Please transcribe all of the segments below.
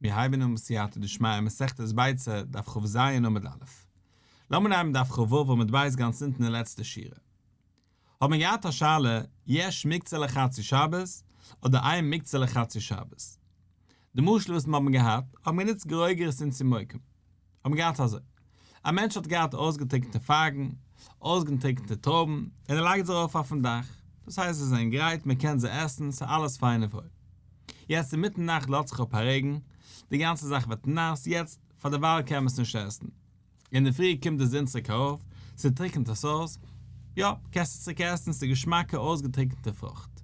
מיר הייבן אן בסייעתא דשמיא מסכת ביצה דף כ ז עמוד א'. לאמיר אנהייבן דף ח ו עמוד ב' גאנץ אונטן אין לעצטע שורה. האט מען געהאט א שאלה, יש מקצה לחצי שבת אדער איין מקצה לחצי שבת? די משל וואס מיר האבן געהאט, האבן גענוצט גרוגרת און צימוקים. האבן געהאט אזוי, א מענטש האט געהאט אויסגעטריקנטע פייגן, אויסגענטריקנטע טרויבן, און ער לייגט זיי ארויף אויפן דאך, דאס הייסט זיי זענען גרייט, מען קען זיי עסן, ס'איז אלעס פיין און וואויל. יעצט אינמיטן נאכט לאזט זיך אפ א רעגן, די גאנצע זאך ווערט נאס, יעצט פאר דערווייל קען מען עס נישט עסן. אינדערפרי קומט די זון צוריק ארויף, ס'טריקנט עס אויס, יא, קענסט עס צוריק עסן, ס'איז געשמאקע אויסגעטריקנטע פרוכט.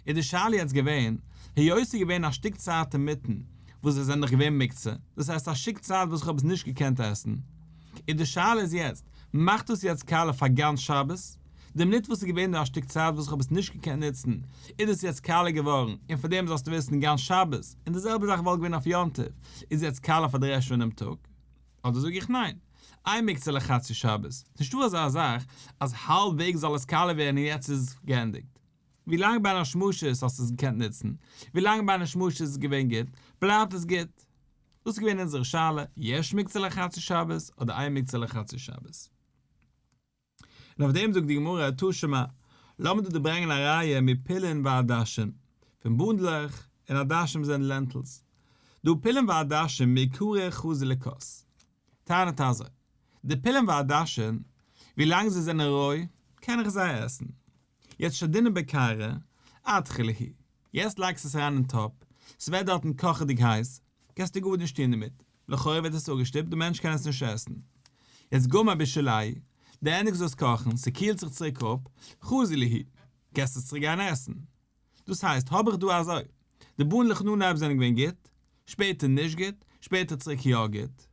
איז די שאלה יעצט געווען, היות ס'איז געווען א שטיק צייט אינמיטן וואס זיי זענען דאך געווען מוקצה, דאס הייסט א שיק צייט וואס איך האב עס נישט געקענט עסן, איז די שאלה איז יעצט, מאכט דאס יעצט קאלע פאר גאנץ שבת? די מינוט וואס ס'איז געווען דא א שטיק צייט וואס איך האב עס נישט געקענט נוצן, איז דאס יעצט קאלע געווארן, און פאר דעם זאלסטו וויסן גאנץ שבת, און די זעלבע זאך וואלט געווען אויף יום טוב, איז יעצט קאלע פאר די רעשט פון דעם טאג? אדער זאג איך ניין, איין מוקצה לחצי שבת, ס'נישטא אזא זאך אז האלב וועג זאל עס קאלע ווערן און יעצט איז געענדיגט. ווי לאנג ביי דיין שמשות האסטו עס געקענט נוצן, ווי לאנג ביי דיין שמשות איז עס געווען גוט, בלייבט עס גוט. דאס איז געווען אונזערע שאלה, יש מקצה לחצי שבת אדער אין מקצה לחצי שבת? און אויף דעם זאגט די גמרא, טא שמע, לאמיר דא דערברענגען א ראיה מפילין ועדשים, פון בונדלעך, און עדשים זענען לענטילס. דא פילין ועדשים מעיקרא חזי לכוס, טענה'ט אזוי, די פילין ועדשים, ווי לאנג זיי זענען רוי, קען איך זיי עסן. יעצט שדינא בקרא אתחי ליהי, יעצט לייגסטו עס אריין אין טאפ, ס'ווערט דארטן קאכעדיג הייס, קענסטו גאר נישט טון דערמיט, לכאורה ווערט עס אפגעשטופט, די מענטש קען עס נישט עסן. יעצט גומר בישלהי, די ענדיגסט דאס קאכן, ס'קילט זיך צוריק אפ, חזי ליהי, קענסט עס צוריק גיין עסן. דאס הייסט האב איך דא אזוי, די באן לכננאיב זענען געווען גוט, שפעטער נישט גוט, שפעטער צוריק יא גוט.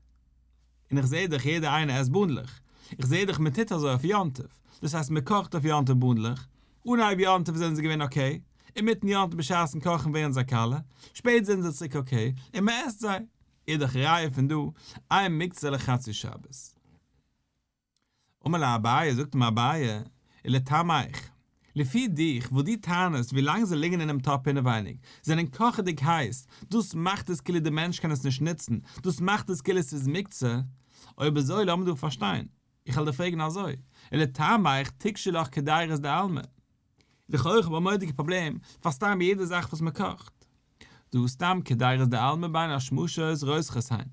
און איך זעה דאך יעדער איינער עסט באנדלעך, איך זעה דאך מען טוט אזוי אויף יום טוב, דאס הייסט מען קאכט אויף יום טוב באנדלעך, אנהייב יום טוב זענען זיי געווען אקעי, אינמיטן יום טוב בשעת'ן קאכן ווערן זיי קאלע, שפעט זענען זיי צוריק אקעי, און מען עסט זיי. איז דאך ראיה פון דא, איין מקצה לחצי שבת. אמר לה אביי, זאגט אים אביי, ולטעמיך, לפי דיך, וואס דו טענה'סט, ווי לאנג זיי ליגן אינעם טאפ אינעווייניג, זענען קאכעדיג הייס, דאס מאכט עס כאילו דער מענטש קען עס נישט נוצן, דאס מאכט עס כאילו עס איז מוקצה, אויב אזוי לאמיר דא פארשטיין, איך וועל דיר פרעגן אזוי, ולטעמיך תקשי לך כדיירות דעלמא? לכאורה האב איך א מורא'דיגע פראבלעם פאר סתם יעדע זאך וואס מ'קאכט דא, סתם כדיירות דעלמא ביין א שמשות רותחת היין.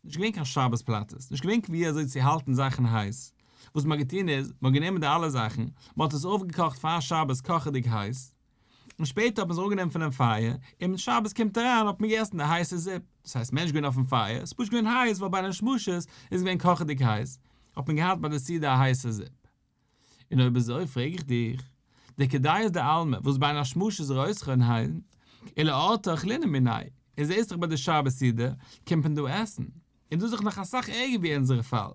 נישט געווען קיין שבת פלאטעס, נישט געווען ווי אזוי צו האלטן זאכן הייס, וואס מען האט געטון איז, מען האט גענומען די אלע זאכן, מען האט עס אויפגעקאכט פאר שבת קאכעדיג הייס, און שפעטער האט מען עס אראפגענומען פונעם פייער, און ווען שבת קומט אריין האט מען געגעסן די הייסע זופ, דאס הייסט מען איז נישט געווען אויפן פייער, עס איז פשוט געווען הייס ווייל ביי די שמשות איז געווען קאכעדיג הייס, האט מען געהאט ביי די סעודה א הייסע זופ. און אויב אזוי פרעג איך דיך, דער כדאיות דעלמא וואס ביי אן השמשה איז רויזכע און היילן, אלא ארתא אכלינא מיני, און זעהסט דאך ביי די שבת סעודה קומט מען דא עסן, און דאס איז דאך נאך אסאך ערגער ווי אונזערע פאל,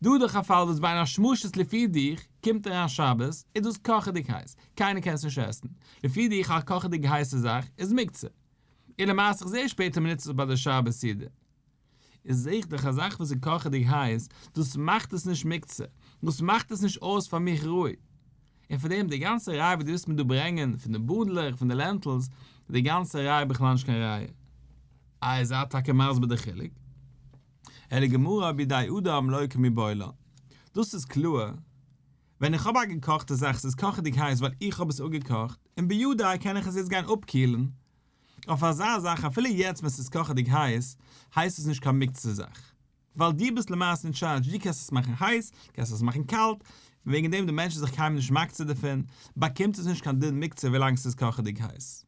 דא איז דאך א פאל וואס ביי אן השמשה איז לפי דיך קומט אריין שבת איז דאס קאכעדיג הייס, קיינער קען עס נישט עסן, לפי דיך א קאכעדיג הייסע זאך איז מוקצה, און למעשה איך זעה שפעטער מ'נוצט עס ביי די שבת סעודה. איז זיך דאך א זאך וואס איז קאכעדיג הייס, דאס מאכט עס נישט מוקצה, דאס מאכט עס נישט אויס פאר מיך ראוי. און פון דעם די גאנצע ראיה וואס דו ווילסט מיר דא ברענגען, פון די בונדלעך, פון די לענטילס, איז די גאנצע ראיה בכלל נישט קיין ראיה. איי איר זייט טאקע מסביר די חילוק? אלא גמרא בידי אדם לא כמי בעולם. דאס איז קלאר, ווען איך האב א געקאכטע זאך, ס'איז קאכעדיג הייס ווייל איך האב עס אפגעקאכט, און ביודעי קען איך עס יעצט גיין אפקילן, אויף אזא זאך אפילו יעצט ווען ס'איז קאכעדיג הייס, הייסט עס נישט קיין מוקצה זאך. ווייל דו ביסט למעשה אין טשארדזש, דו קענסט עס מאכן הייס, דו קענסט עס מאכן קאלט, וועגן דעם די מענטש איז זיך קיינמאל נישט מקצה דערפון, באקומט עס נישט קיין דין מוקצה ווילאנג ס'איז קאכעדיג הייס.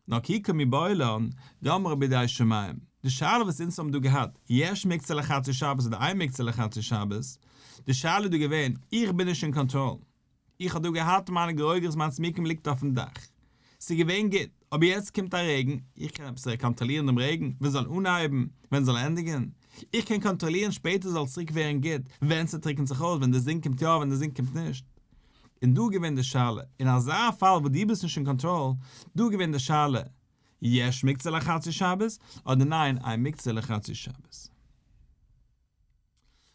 נאר כי קומי בעולם, גמרא בידי שמים. די שאלה וואס אונז האבן דא געהאט, יש מוקצה לחצי שבת אדער אין מוקצה לחצי שבת, די שאלה איז דא געווען, איך בין נישט אין קאנטראל. איך האב דא געהאט מיינע גערויגערס מיינס מקום ליגט אויפן דאך ס'איז געווען גוט אבער יעצט קומט א רעגן איך קען עפעס קאנטראלירן דעם רעגן ווען ס'זאל אנהייבן ווען ס'זאל ענדיגן איך קען קאנטראלירן שפעטער זאל צוריק ווערן גוט ווען ס'טריקנט זיך אויס ווען די זון קומט יא ווען די זון קומט נישט און דא געווען די שאלה אין אזא פאל וואס דו ביסט נישט אין קאנטראל דא געווען די שאלה יש מקצה לחצי שבת אדער ניין אין מקצה לחצי שבת.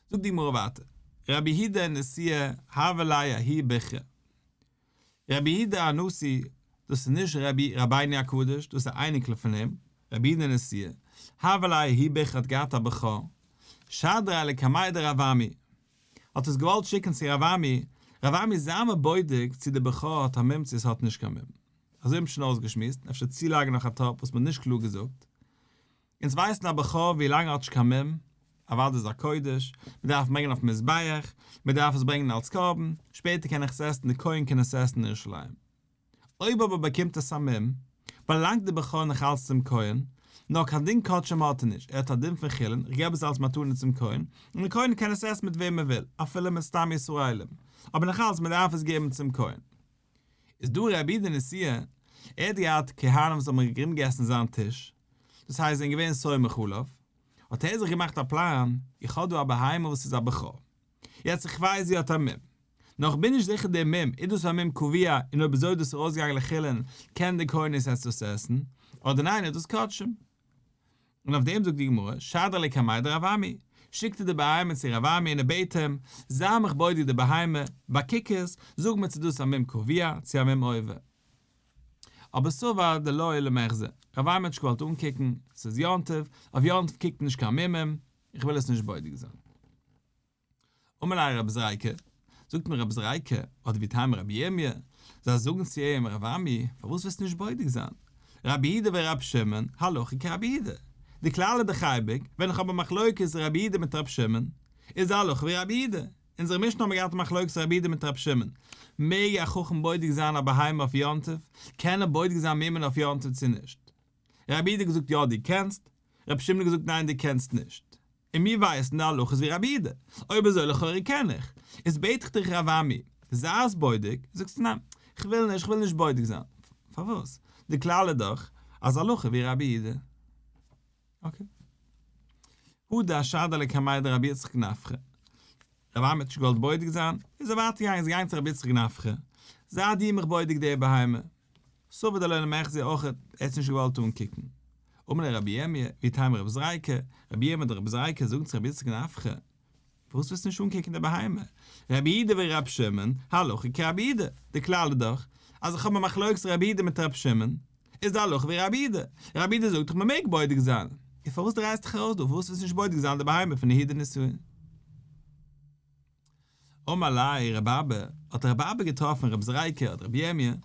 זאגט די גמרא ווייטער, רבי היהודה הנשיא הוה ליה הי' בכרה. רבי היהודה הנשיא, דאס איז נישט רבי רבינו הקדוש, דאס איז א אייניקל פון אים, רבי היהודה הנשיא, הוה ליה הי' בכרה האט געהאט א בכור, שדרה לקמיה דרב עמי, האט עס געוואלט שיקן צו רב עמי, רב עמי זיי מיר בודק צו די בכור האט א מום צו עס האט נישט קיין מום. אזוי האט מען שוין אויסגעשמועסט, אפשר צולייגן נאך א טאפ וואס מען האט נישט קלאר געזאגט, אונז ווייסן א בח ח ווי לאנג האט נישט קיין מום, אוואדע איז א קודש, מען דארף ברענגען אויפן מזבח, מען דארף עס ברענגען אלס קרבן, שפעטער קען איך עס עסן, די כהן קען עס עסן אין ירושלים. אויב אבער באקומט עס א מום, באלאנגט די בח ח נאך אלץ צום כהן, נאר קיין דין קדשים האט ער נישט, ער האט א דין פון חולין, איך געב עס אלס מתנה צום כהן, און די כהן קען עס עסן מיט וועם ער וויל, אפילו מיט סתם ישראלים, אבער נאך אלץ מען דארף עס געבן צום כהן. איז דא רבי דנסי', ער האט געהאט כהנים וואס האבן ארומגעגעסן זיין טיש, דאס הייסט זיי זענען געווען סומך עליו, האט ער זיך געמאכט א פלאן, איך האב דא א בהמה וואס איז א בכור, יעצט איך ווייס זי האט א מום, נאר איך בין נישט זיכער די מום, איז דאס א מום קביע און אויב אזוי איז דאס ארויסגעגאנגען לחילין, קען די כהן איז עס דאס עסן, אדער ניין איז דאס קדשים. און אויף דעם זאגט די גמרא, שדר לי קמאי דרב עמי, שיקט ער די בהמה צו רב עמי און ער בעט אים, זיי מיך בודק די בהמה, באקוק עס, זאג מיר צו דאס א מום קביע צו א מום עובר. אבער סאבא דלא עילא מעכ ז, ר' וויימעטשקע וואלט אנקוקן, ס'איז יום טוב, אויף יום טוב קוקט מען נישט קיין מומים, איך וויל עס נישט בודק זיין. אמר ליה רבי זרעיקה, זאגט מיר רבי זרעיקה, אדער ווי טעמא רבי ירמיה, זיי זאגן צו איהם רב עמי, פארוואס ווילסטו נישט בודק זיין? רבי יהודה ורבי שמעון, הלכה כרבי יהודה. די כלל איז דאך אייביג, ווען איך האב א מחלוקת רבי יהודה מיט רבי שמעון, איז די הלכה ווי רבי יהודה. אונזערע משנה האבן מיר געהאט א מחלוקת רבי איד מיט רבי שמעון, מעג א חכם בודק זיין א בהמה אויף יום טוב? קען ער בודק זיין מימון אויף יום טוב צו נישט? רבי איד האט געזאגט יא דו קענסט, רבי שמעון האט געזאגט ניין דו קענסט נישט, און מיר ווייסן די הלכות ווי רבי איד, אויב אזוי לכאורה קען איך, איז בעט איך דיך רב עמי, זיי עס בודק, זאגסטו ניין, כ'וויל נישט, כ'וויל נישט בודק זיין, פארוואס? די כלל איז דאך אז הלכה ווי רבי איד. אקעי. הוא דאשאד עלי קמאי דרבי יצחק נפחא. רבי עמי האט נישט געוואלט בודק זיין, איז ער ווייטער געגאנגען, איז געגאנגען צו רבי יצחק נפחא, זיי די מיך בודק די בהמה. סובר דלא נמח זי אויך, ער האט עס נישט געוואלט אנקוקן. אמר ליה רבי עמי, ווי טעמא רב זרעיקה, רבי עמי אדער רב זרעיקה זאגן צו רבי יצחק נפחא, פארוואס ווילסטו נישט אנקוקן די בהמה? רבי אידה ווי רבי שמעון, הלכה כרבי אידה, די כלל איז דאך, אז איך האב א מחלוקת רבי אידה מיט רבי שמעון, איז די הלכה ווי רבי אידה, רבי אידה זאגט דאך מען מעג בודק זיין, איז פארוואס דרייסטו דיך ארויס דא, פארוואס ווילסטו נישט בודק זיין די בהמה פון יהודה נסיון? אמר ליה רבי אבא, האט רבי אבא געטראפן רבי זרעיקה אדער רבי ירמי', און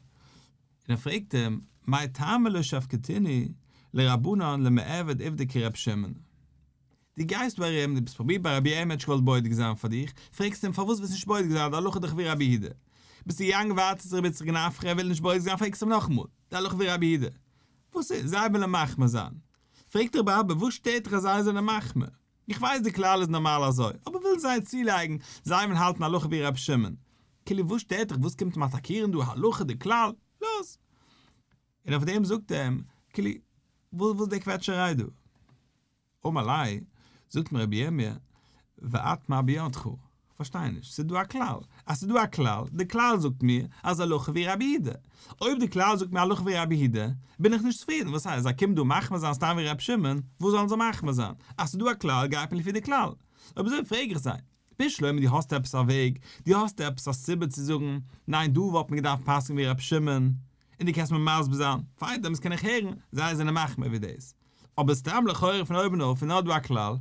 ער פרעגט אים, מאי טעמא לא שפכתיני לרבנן למעביד עבדי כרבי שמעון? דו גייסט ביי אים, דו ביסט פראבירט ביי רבי אים עטשקאלד בודק זיין פאר דיך, פרעגסט אים פארוואס ביסט נישט בודק זיין די הלכה דיך ווי רבי הידע. ביסט א יענג ווארט צו זיך ביז צוריק נאך פרעהן וויל נישט בודק זיין פרעגסט אים נאכאמאל די הלכה ווי רבי הידע. וואס איז? זיי ווילען מחמיר זיין. פרעג דיך בה ב וואס שטערט דיך אז זיי זענען מחמיר? איך ווייס די כלל איז נארמאל אזוי, אבער ווילן זיי צולייגן, זיי ווילן האלטן הלכה ווי רבי שמעון. כאילו וואס שטערט דיך וואס קומט אים אטאקירן דא הלכה די כלל? לאז. און אויף דעם זאגט ער אים כאילו וואס איז די קוועטשעריי דא? אמר לי, זאגט מיר רבי ירמיה, ואט מה בידך? כ'פארשטיי נישט, ס'איז דא א כלל, אז ס'איז דא א כלל, די כלל זאגט מיר אז הלכה ווי רבי הידע, אויב די כלל זאגט מיר הלכה ווי רבי הידע, בין איך נישט צופרידן, וואס הייסט, זיי קומען דא מחמיר זיין סתם ווי רבי שמעון, וואס זאלן זיי מחמיר זיין, אז ס'איז דא א כלל גייט מען לפי די כלל, אויב אזוי פרעג איך זיי, רבי שלמה דו האסט עפעס א וועג, דו האסט עפעס א סיבה צו זאגן, ניין דא וואלט מען געדארפט פסק'ן ווי רבי שמעון, און דו קענסט מיר מסביר זיין, פארדעם וואס קען איך הערן, זיי זענען מחמיר ווי דאס, אבער סתם לכאורה פון אויבן אויף איז נאר דא א כלל,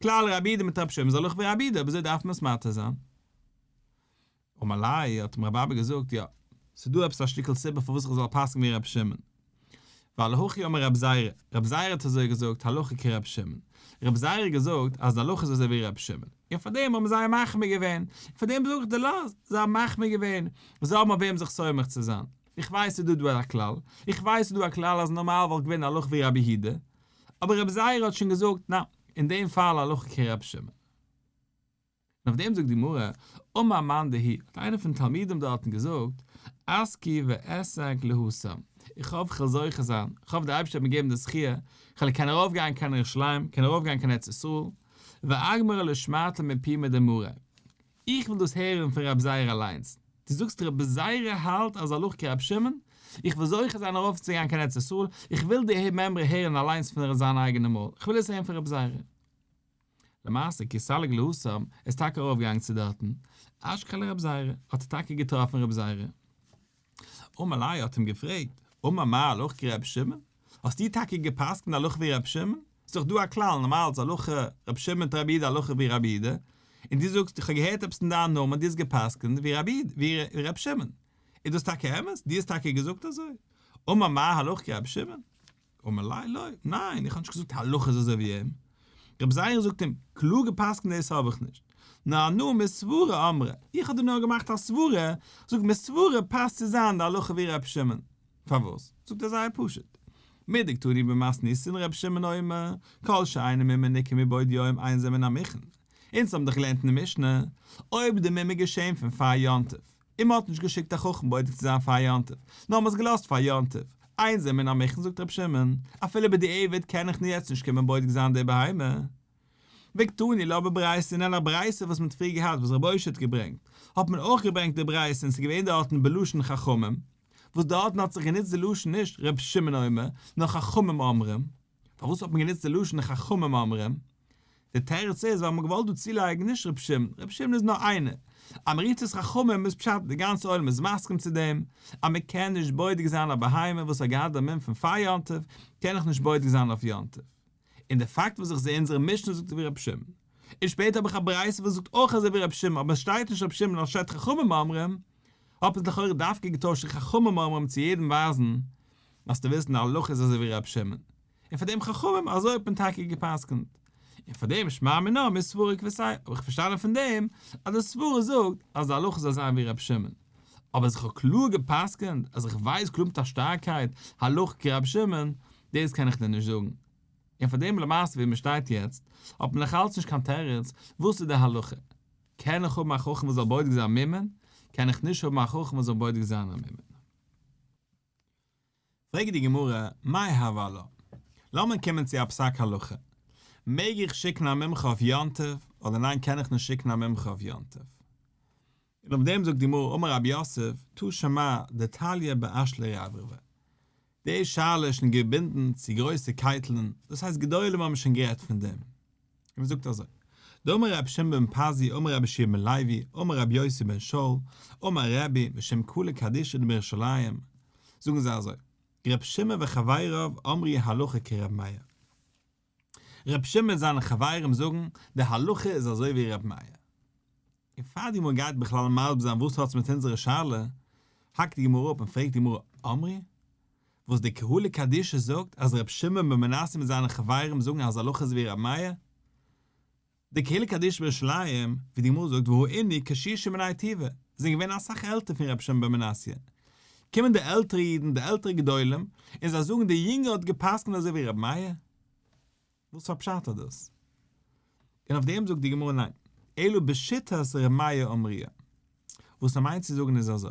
כלל רבי ד מיט רב שמעון זאל אויך ווי רבי ד אבער אזוי דארף מען עס מתיר זיין. אמר לי, האט אים רבי אבא געזאגט, יא, ס'איז דא עפעס א שטיקל סיבה פארוואס איך זאל פסק'ן ווי רבי שמעון. ווייל הכי אמר רבי זירא, רבי זירא האט אזוי געזאגט, הלכה כרבי שמעון. רבי זירא האט געזאגט אז די הלכה איז אזוי ווי רבי שמעון. און פארדעם האבן זיי מחמיר געווען. און פארדעם זאג איך דיר לא, זיי האבן מחמיר געווען. זיי האבן אויף וועם זיך סומך צו זיין. איך ווייס ס'איז דא דא א כלל, איך ווייס ס'איז דא א כלל אז נארמאל וואלט געווען הלכה ווי רבי היהודה, אבער רבי זייערע האט שוין געזאגט ניין, אין דעם פאל הלכה כ רבי שמעון. און אויף דעם זאגט די גמרא, אמר מאן דהי', האט איינער פון די תלמידים דארטן געזאגט, עסקי ואעסק להסם, איך האף כ'וועל זוכה זיין, איך האף דער אייבערשטער וועט מיר געבן די זכיה, כ'וועל קענען ארויף גיין קיין ירושלים, קענען ארויף גיין קיין ארץ ישראל, ואגמרה לשמעתא מפי מדמרי, איך וויל דאס הערן פון רב זייער אליינס. דו זאגסט רב זייער האלט אז הלוך כרב שמעון? איך וויל זוכה זיין ארויפצוגיין קיין ארץ ישראל, איך וויל די מימרא הערן אליינס פון ר' זיין אייגענע מויל, איך וויל עס הערן פון רב זייער. למעשה כסלג להסם ער איז טאקע ארויפגעגאנגען צו דארטן, אשכול רב זייער, האט ער טאקע געטראפן רב זייער. אמר ליה האט אים געפרעגט, אמר מה הלכה כרבי שמעון? האסטו טאקע געפסקנט הלכה ווי רבי שמעון? ס'איז דאך דא א כלל, נארמאל איז הלכה רבי שמעון טרבי איד הלכה ווי רבי איד, און דו זאגסט איך האב געהערט עפעס אין דיין נאמען דו האסט געפסקנט ווי רבי איד, ווי רבי שמעון, איז דאס טאקע אמת? דו האסט טאקע געזאגט אזוי? אמר מה הלכה כרבי שמעון? אמר לי לא, ניין, איך האב נישט געזאגט הלכה איז אזוי ווי אים, רבי זייער'ן זאגט אים, קלאר גע'פסק'נט דאס האב איך נישט, נאר הנאה מסברה אמרה, איך האב דיר נאר געמאכט א סברה, זאגט מסברה פאסט צו זיין די הלכה ווי רבי שמעון, פארוואס? זאגט ער זייער פשוט, מידי קטני במס ניסין רבי שמעון אומר, כל שאינו מימי ניכר מבעוד יום אין זה מן המכן, אונז האבן דאך געלערנט אין די משנה, אויב איז די מימי געשעהן פון פאר יום טוב, און מען האט נישט געשיקט א חכם בודק צו זיין פאר יום טוב, נאר מען האט עס געלאזט פאר יום טוב, איין זעמער אין א מכין זאגט רבי שמעון, אפילו בדיעבד קען איך יעצט נישט קומען בודק זיין די בהמה. וקטני לא בברייסא און אין א ברייסא וואס מען האט פריער געהאט וואס רבי אושר האט געברענגט, האט מען אויך געברענגט די ברייסא און עס איז געווען דארטן בלשון חכמים, וואס דארטן האט זיך גענוצט די לשון נישט רבי שמעון אומר, נאר חכמים אומרים. פארוואס האט מען גענוצט די לשון חכמים אומרים? די תירוץ איז ווייל מען האט געוואלט דא צולייגן נישט רבי שמעון, רבי שמעון איז נאר איינער. עמריתות חכמים איז פשט די גאנצע עולם איז מסכים צו דעם אז מען קען נישט בודק זיין א בהמה וואס האט געהאט דעם מום פון פאר יום טוב קען איך נישט בודק זיין אויף יום טוב. און די פאקט וואס איך זע אונזערע משנה זאגט ווי רבי שמעון, און שפעטער האב איך א ברייתא וואס זאגט אויך אזוי ווי רבי שמעון אבער עס שטייט נישט רבי שמעון אנשטאט חכמים אומרים, האט מען עס לכאורה דווקא געטוישט צו חכמים אומרים צו יעדעם ווייזן אז דו ווילסט אין די הלכה איז אזוי ווי ר' שמעון, און פאר דעם חכמים אזוי האט מען טאקע גע'פסק'נט, און פאר דעם שמע מינה מי סברה כבסי', האב איך פארשטאנען פון דעם אז די סברה זאגט אז די הלכה זאל זיין ווי ר' שמעון, אבער אז איך האב קלאר גע'פסק'נט אז איך ווייס קלאר מיט א שטארקייט הלכה כר' שמעון, דאס קען איך דיר נישט זאגן, און פאר דעם למעשה ווי מען שטייט יעצט האט מען נאך אלץ נישט קיין תירוץ וואס איז די הלכה, קען איך האבן א חכם וואס זאל בודק זיין ממון, קען איך נישט האבן א חכם וואס זאל בודק זיין א ממון. פרעגט די גמרא, מאי הוה לה? לאמיר קומען צו א פסק הלכה, מעג איך שיקן א מומחה אויף יום טוב אדער ניין קען איך נישט שיקן א מומחה אויף יום טוב? און אויף דעם זאגט די גמרא אמר רבי יוסף תא שמע דתליא באשלא רברבא, די שאלה איז שוין געבינדן צו גרויסע קייטלען, דאס הייסט גדולים האבן שוין גערעדט פון דעם. און מען זאגט אזוי, דאמר רבי שמעון בן פזי אמר רבי ישעי' בן לוי אמר רבי יוסי בן שאול אמר רבי בשם כלה קדישא דמירושלים, זאגן זיי אזוי, רבי שמעון וחבריו אמרי הלכה כרבי מאיר. רבי שמעון און זיינע חברים זאגן, די הלכה איז אזוי ווי רבי מאיר. און פאר די גמרא גייט בכלל מסביר זיין וואס האטס מיט אונזערע שאלה, האקט די גמרא אפ און פרעגט די גמרא אמרי, וואס די קהלא קדישא זאגט אז רבי שמעון בן מנסיא מיט זיינע חברים זאגן אז הלכה איז ווי רבי מאיר, די קהלא קדישא בירושלים, ווי די גמרא זאגט והוא איני קשישא מני תיבה, זענען געווען אסאך עלטער פון רבי שמעון בן מנסיא, קומען די עלטערע אידן, די עלטערע גדולים, און זיי זאגן די יונגער האט געפסקנט אזוי ווי רבי מאיר? וואס פאר פשט האט דאס? און אויף דעם זאגט די גמרא ניין, אלא בשיטת רמיה אמריה, וואס ער מיינט צו זאגן איז אזוי,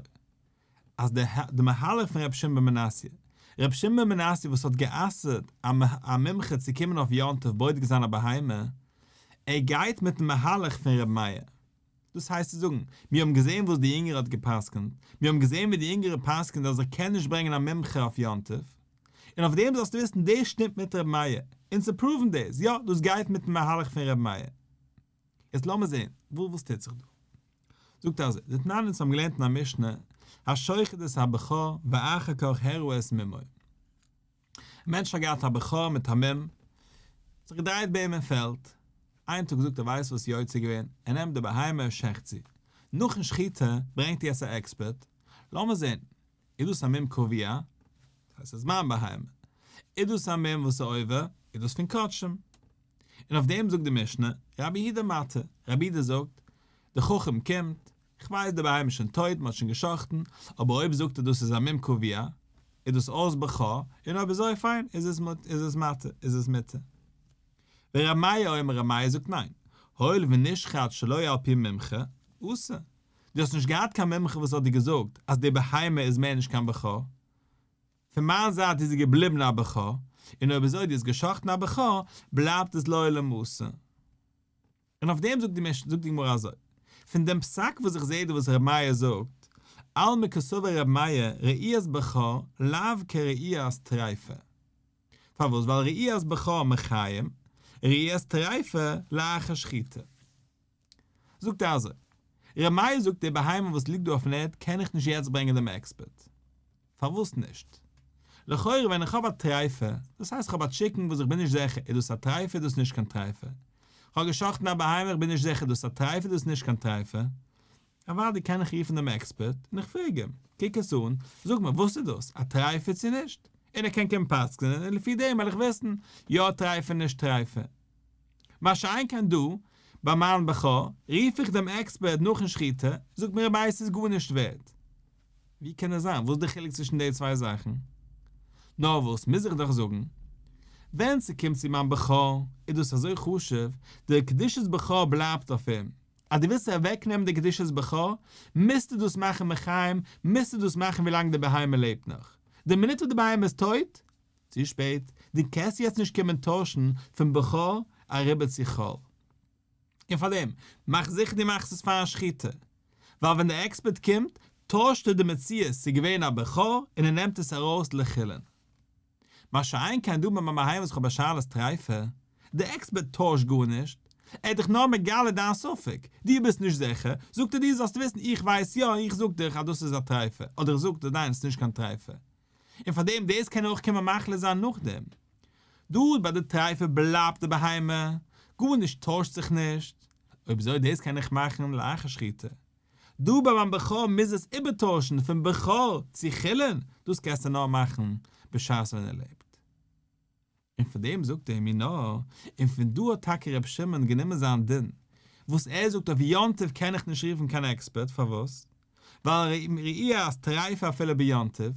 אז די מהלך פון רבי שמעון בן מנסיא, רבי שמעון בן מנסיא וואס האט גע'אסר'ט א מומחה צו קומען אויף יום טוב בודק זיין א בהמה, ער גייט מיטן מהלך פון רמיה, דאס הייסט צו זאגן, מיר האבן געזען וואס די יונגערע האט גע'פסק'נט, מיר האבן געזען ווי די יונגערע פסק'נט אז איך קען נישט ברענגען א מומחה אויף יום טוב, און אויף דעם זאלסטו וויסן דאס שטימט מיט ר' מאיר, און צו פראוון דאס, יא, דאס גייט מיט'ן מהלך פון ר' מאיר. יעצט לאמיר זען וואס טוט זיך דא. זאגט אז די תנאים צו האבן געלערנט אין א משנה, השוחט את הבכור ואחר כך הראו את מימיו. א מענטש האט געהאט א בכור מיט א מום, האט זיך געדרייט ביי אים אין פעלד, איין טאג זאגט ער ווייסט וואס יוצא געווען, ער נעמט די בהמה ער שעכט זי, נאכן שחיטה ברענגט איר עס א עקספערט, לאמיר זען, איז דאס א מום קוביא, דאס הייסט עס איז מיין בהמה, איז דאס א מום וואס איז עובר, איז דאס פון קדשים, און אויף דעם זאגט די משנה, רבי יהודה מתי, רבי יהודה זאגט, די חכם קומט, כ'ווייס די בהמה איז שוין טויט, מ'האט שוין געשחט'ן, אבער אויב זאגט ער דאס איז א מום קביעה, איז דאס אויס בע ח, און אויב אזוי פיין, איז עס מוט איז עס מטה איז עס מותר. ור' מאיר אומר ר' מאיר זאגט ניין, הואיל ונשחט שלא על פי מומחה, אסור. דו האסט נישט געהאט קיין מומחה וואס האט דיר געזאגט אז די בהמה איז מער נישט קיין בע ח, פון מיין זייט איז זי געבליבן א בע ח, און אויב אזוי דו האסט געשחט'ן א בע ח, בלייבט עס לעולם אסור. און אויף דעם זאגט די משנה, זאגט די גמרא אזוי, פון דעם פסק וואס איך זעה דא וואס ר' מאיר זאגט, עלמא כסובר ר' מאיר ראיית בע ח לאו כראיית טריפה. פארוואס? ווייל ראיית בע ח מחיים, ראיית טריפה לאחר שחיטה. זאגט ער אזוי, ר' מאיר זאגט די בהמה וואס ליגט דא אויפן ערד קען איך נישט יעצט ברענגען דעם עקספערט. פארוואס נישט? לכאורה ווען איך האב א טרייפה, דאס הייסט איך האב א טשיקן וואס איך בין נישט זעכער איז דאס א טרייפה איז דאס נישט קיין טרייפה, איך האב געשאכטן א בהמה איך בין נישט זעכער איז דאס א טרייפה איז דאס נישט קיין טרייפה, אוואדי קען איך רופן דעם עקספערט און איך פרעג אים, קוק עס אן, זאג מיר וואס איז דאס, א טרייפה צו נישט? און ער קען קומען פסק'נען און לפי דעם וועל איך וויסן יא טרייפה נישט טרייפה. מה שאין כן דא, ביי מיין בע ח, רוף איך דעם עקספערט נאכן שחיטה, זאגט מיר רביה ס'איז גארנישט ווערד. ווי קען עס זיין? וואס איז די חילוק צווישן די צוויי זאכן? נאר וואס, מוז איך דאך זאגן, ווען ס'קומט צו מיין בע ח איז דאס אזוי חשוב, דער קדושת בע ח בלייבט אויף אים, אז דו ווילסט אוועקנעמען די קדושת בע ח, מוזטו דאס מאכן מחיים, מוזטו דאס מאכן ווי לאנג די בהמה לעבט נאך. די מינוט וואס די בהמה איז טויט, צו שפעט, דו קענסט יעצט נישט קומען טוישן פון בע ח אריבער צו כל. און פארדעם, מאך זיכער דו מאכסט עס פארן שחיטה. ווייל ווען דער עקספערט קומט, טוישט ער די מציאות צו געווען א בכור און ער נעמט עס ארויס לחילין. מה שאין כן דא ביים מהיום זכור ביי שאלת טריפה, דער עקספערט טוישט גארנישט, ער האט דיך נאר מגלה דיין ספק, דו ביסט נישט זיכער, זאגט ער דיר זאלסט וויסן איך ווייס יא, איך זאג דיך אז דאס איז א טריפה, אדער איך זאג דיין ס'נישט קיין טריפה. און פאר דעם דאס קען אויך קומען מחלה זיין נאכדעם. דארט ביי די טרייפה בלייבט די בהמה, גארנישט טוישט זיך נישט, אויב אזוי דאס קען איך מאכן לאחר שחיטה. דא ביי מיין בכור מוז עס איבערטוישן פון בכור צו חולין, דאס קענסטו נאר מאכן בשעת ווען ער לעבט. און פון דעם זאגט ער מיר נאר, און פון דא האט טאקע ר' שמעון גענומען זיין דין, וואס ער זאגט אויף יום טוב קען איך נישט רופן קיין עקספערט, פארוואס? ווייל ראי' אז טרייפה אפילו ביום טוב,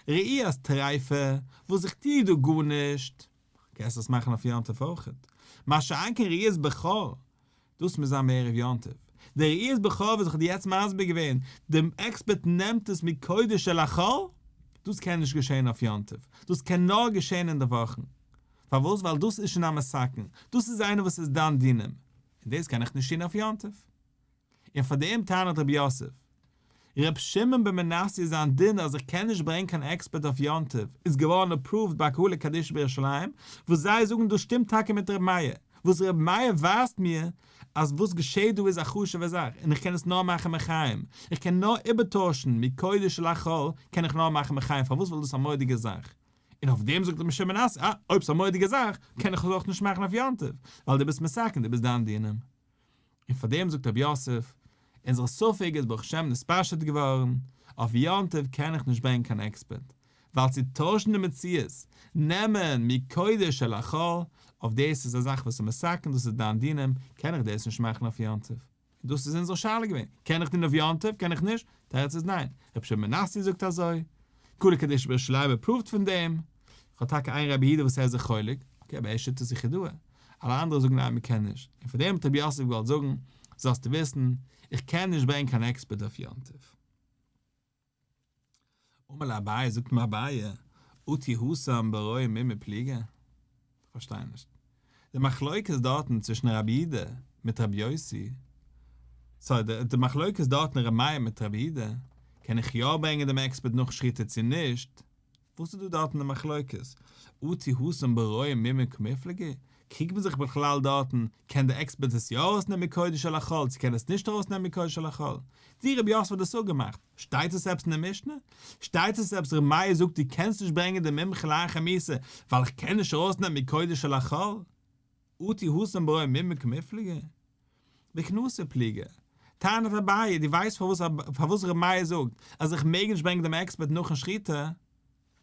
ראי' אז טרייפה וואס איך טוה דא גארנישט, קענסט עס מאכן אויף יום טוב אויכעט, מה שאין כן ראי' אז בכור דאס מוז זיין בערב יום טוב. די ראיית בכור וואס איך האב דיר יעצט מסביר געווען, די עקספערט נעמט עס מקודש אל החול, דאס קען נישט געשען אויף יום טוב, דאס קען נאר געשען אין די וואכן. פארוואס? ווייל דאס איז שוין א מסכן, דאס איז איינער וואס איז דן דינים, און דאס קען איך נישט טון אויף יום טוב. און פאר דעם טענה'ט רבי יוסף, ר' שמעון בן מנסיא זיין דין אז איך קען נישט ברענגן קיין עקספערט אויף יום טוב איז געווארן אפראווד ביי קהלה קדישא בירושלים וואס זיי זאגן דאס שטימט טאקע מיט ר' מאיר וואס ר' מאיר ווייזט מיר אז וואס געשעהט דא איז א חשוב'ע זאך און איך קען עס נאר מאכן מחיים איך קען נאר איבערטוישן מקודש אל החול קען איך נאר מאכן מחיים פארוואס ווייל דאס איז א מורא'דיגע זאך און אויף דעם זאגט ר' שמעון בן מנסיא אה אויב ס'איז א מורא'דיגע זאך קען איך עס אויך נישט מאכן אויף יום טוב ווייל דו ביסט מסכן דו ביסט דיין דינים און פאר דעם זאגט רבי יוסף, אונזער ספק איז ברוך השם נתפשט געווארן, אויף יום טוב קען איך נישט ברענגען קיין עקספערט, ווייל צו טוישן די מציאות, נעמען מקודש אל החול, אויף דאס איז א זאך וואס איז מסכן, דאס איז דיין דינים, קען איך דאס נישט מאכן אויף יום טוב. און דאס איז אונזער שאלה געווען, קען איך טון אויף יום טוב, קען איך נישט? תירוץ איז ניין, רבי שמעון בן נסיא זאגט אזוי, כולא קדישא בער שלייבער פראווט פון דעם, כ'האב טאקע איין רבי הידע וואס ער איז זיך חולק, אקעי אבער ער שיטות איז זיך ידוע, אלע אנדערע זאגן ניין מ'קען נישט, און פאר דעם האט רבי יוסף געוואלט זאגן, זאלסטו וויסן, איך קען נישט ברענגען קיין עקספערט אויף יום טוב. אמר לה אביי, זאגט אים אביי, אתי הוסם ברואים מימי פליגה? כ'פארשטיי נישט די מחלוקת דארטן צווישן רבי אידא מיט רבי יוסי, סארי די די מחלוקת דארטן רבי מאיר מיט רבי אידא, קען איך יא ברענגען דעם עקספערט נאך שחיטה צו נישט, וואס איז דא דארטן די מחלוקת, אתי הוסם ברואים מימין כמפלגי, קריגט מען זיך בכלל דארטן, קען די עקספערט עס יא ארויסנעמען מקודש אל החול צו קען עס נישט ארויסנעמען מקודש אל החול, ווי רבי יוסף האט דאס אפגעמאכט, שטייט עס עפעס אין די משנה? שטייט עס עפעס ר' מאיר זאגט דו קענסט נישט ברענגען די מומחה לאין חמיסה ווייל איך קען נישט ארויסנעמען מקודש אל החול? אותי הושם ברעו מימי כמפלגה? בכנסי' פליגער? טענת אביי, דו ווייסט פארוואס ר' מאיר זאגט אז איך מעג נישט ברענגען דעם עקספערט נאכן שחיטה?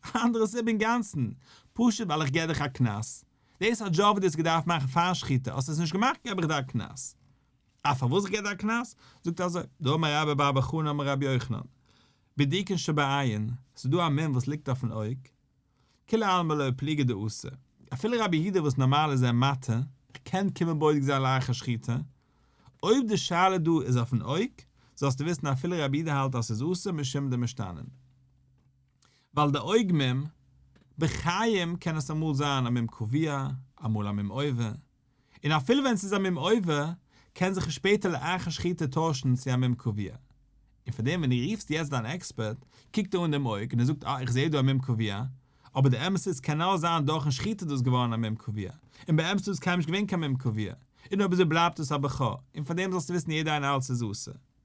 א אנדערע סיבה אינגאנצן, פשוט ווייל איך געב דיך א קנס. דאס א דזשאב וואס דו האסט געדארפט מאכן פאר שחיטה, האסט עס נישט געמאכט געב איך דיר א קנס. א פארוואס איך גיב דיר א קנס? זאגט ער אזוי, דאמר רבי בר בר חנא אמר רבי יוחנן, בדיקין שבעין, ס'איז דא א מום וואס ליגט אויפן אויג, כולי עלמא לא פליגי דאסור, אפילו רבי יהודה וואס נארמאל איז ער מטה, ער קען קומען בודק זיין לאחר שחיטה, אויב די שאלה דא איז אויפן אויג, זאלסטו וויסן אפילו רבי יהודה האלט אז ס'איז אסור משום די משתנים. ווייל די אויג מום, בחיים קען עס אמאל זיין א מום קביע, אמאל א מום עובר. און אפילו ווען ס'איז א מום עובר, קען זיך עס שפעטער לאחר השחיטה טוישן צו א מום קובע. און פאר דעם ווען דו רופסט יעצט דיין עקספערט, קוקט ער אן דעם אויג און ער זאגט אה איך זע דא א מום קובע, אבער די אמת איז קען נאר זיין דורכ'ן שחיטה איז דאס געווארן א מום קובע, און באמת איז דאס קיינמאל נישט געווען קיין מום קובע, און אויב אזוי בלייבט דאס א בע ח, און פאר דעם זאלסטו וויסן יעדע איין אלץ איז אסור.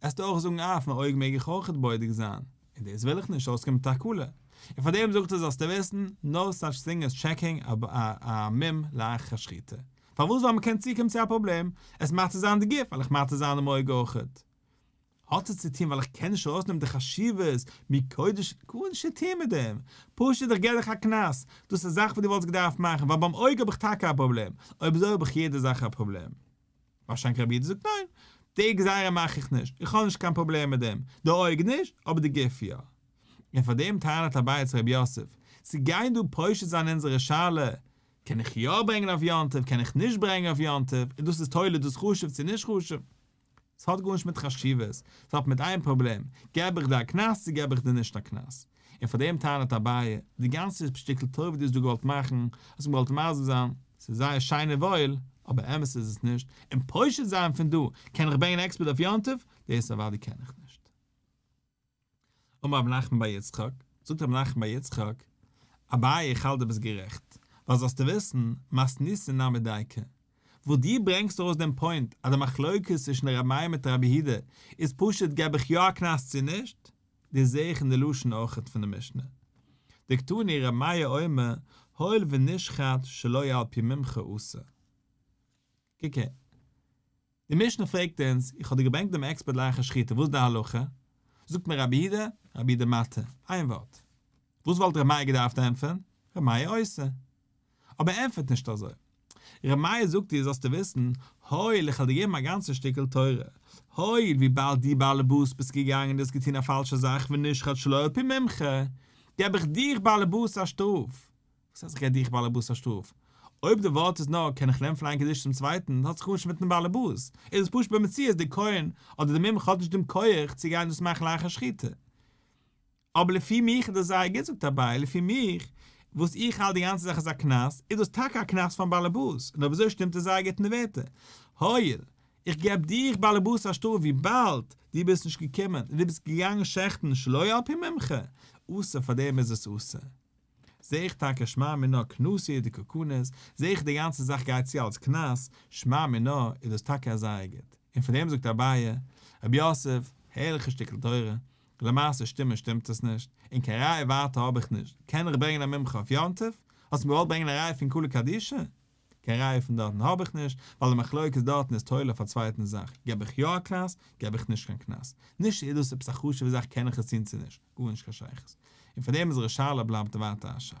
עסט אויך זאגן אויף מיין אויג מעג איך אויכעט בודק זיין, און דאס וויל איך נישט אויסקומען מיט א קללה, און פארדעם זאגט ער זאלסטו וויסן, נא סאטש טינג עז טשעקינג א מום לאחר שחיטה, פארוואס ווייל מען קען צוקומען צו א פראבלעם, עס מאכט צו זיין די גוף, וועל איך מאתר זיין דעם אויג אויכעט? האט עס צו טון ווייל איך קען נישט ארויסנעמען די חשיבות מקודש, גארנישט צו טון מיט דעם, פשוט איך געב דיך א קנס, דאס איז א זאך וואס דו וואלטסט געדארפט מאכן, ווייל ביים אויג האב איך טאקע א פראבלעם, אויב אזוי האב איך יעדע זאך א פראבלעם. ווארשיינליך רבי איד זאגט ניין, די גזירה מאך איך נישט, איך האב נישט קיין פראבלעם מיט דעם, די אויג נישט, אבער די גוף יא. און פאר דעם טענה'ט אביי צו רבי יוסף, צו גיין דא פושט זיין אונזערע שאלה, קען איך יא ברענגען אויף יום טוב, קען איך נישט ברענגען אויף יום טוב, און דאס איז תולה, דאס חשוב צו נישט חשוב. ס'האט גארנישט מיט חשיבות, ס'האט מיט איין פראבלעם, געב איך דיר א קנס צו געב איך דיר נישט א קנס. און פאר דעם טענה'ט אביי, די גאנצע שטיקל טובה וואס דו האסט געוואלט מאכן, האסט געוואלט מסביר זיין, ס'איז זייער שיין און וואויל, אבער אמת איז עס נישט, און פושט זיין פון דא, קען איך ברענגען עקספערט אויף יום טוב? דאס אוודאי קען איך נישט. אמר רבי נחמן בר יצחק, זאגט רבי נחמן בר יצחק, אביי איך האלט דו ביסט גערעכט, ווייל זאלסטו וויסן, מס ניסין נמי דייקא, וואס דו ברענגסט ארויס דעם פוינט אז די מחלוקת צווישן ר' מאיר מיט ר' אביהודה איז פשוט געב איך יא א קנס צו נישט, דאס זעה איך אין די לשון אויכעט פון די משנה. דקתני ר' מאיר אומר הואיל ונשחט שלא על פי מומחה אסור. קוק אהן. די משנה פרעגט אונז, איך האב דיר געברענגט דעם עקספערט לאחר שחיטה, וואס איז די הלכה? זאגט מיר רבי אידה, רבי אידה מאטה, איין ווארט. וואס וואלט ר' מאיר געדארפט ענטפערן? ר' מאיר אוסר. אבער ער ענטפערט נישט אזוי. ר' מאיר זאגט איר זאלסטו וויסן, הואיל איך האב דיר געגעבן א גאנצע שטיקל תורה, הואיל וויבאלד דו באלעבאס ביסט געגאנגען און דו האסט געטון א פאלשע זאך ונשחט שלא על פי ממך, געב איך דיך באלעבאס א שטראף. וואס הייסט איך געב דיך באלעבאס א שטראף? אויב די ווארט איז נאר קען איך לערנען פון איין קדושה צום צווייטן האט זיך גארנישט מיטן באלעבאס, איז עס פשוט במציאות דער כהן אדער דער מומחה האט נישט דעם כח צו גיין דאס מאכן לאחר שחיטה. אבער לפי מיך איז דאס זייער גוט זאגט אביי, לפי מיך וואס איך האלט די גאנצע זאך איז א קנס, איז דאס טאקע א קנס פארן באלעבאס, און אויב אזוי שטימט עס זייער גוט אין די ווערטער, הויל, איך געב דיך באלעבאס א שטראף וויבאלד דו ביסט נישט געקומען און דו ביסט געגאנגען שעכטן שלא על פי ממך, אסור, פארדעם איז עס אסור. זע איך טאקע שמע מינה קנאסיע די קוקנס, זע איך די גאנצע זאך גייט צו אלס קנס, שמע מינה איז דאס טאקע א זייער גוט, און פון דעם זאגט אביי, ר' יוסף, הערליכע שטיקל תורה, למעשה שטימען שטימט עס נישט, און קיין ראיה ווייטער האב איך נישט, קען איך ברענגען א מומחה אויף יום טוב? האסט מיר געוואלט ברענגען א ראיה פון כולא קדישא? קיין ראיה פון דארטן האב איך נישט, ווייל די מחלוקת דארטן איז תולה אויף א צווייטן זאך, געב איך יא א קנס, געב איך נישט קיין קנס. נישט איז דאס עפעס א חשוב'ע זאך קען איך עס טון צו נישט, גארנישט קיין שייכות. און פארדעם איז ר' שאלה בלייבט ווייטער א שאלה.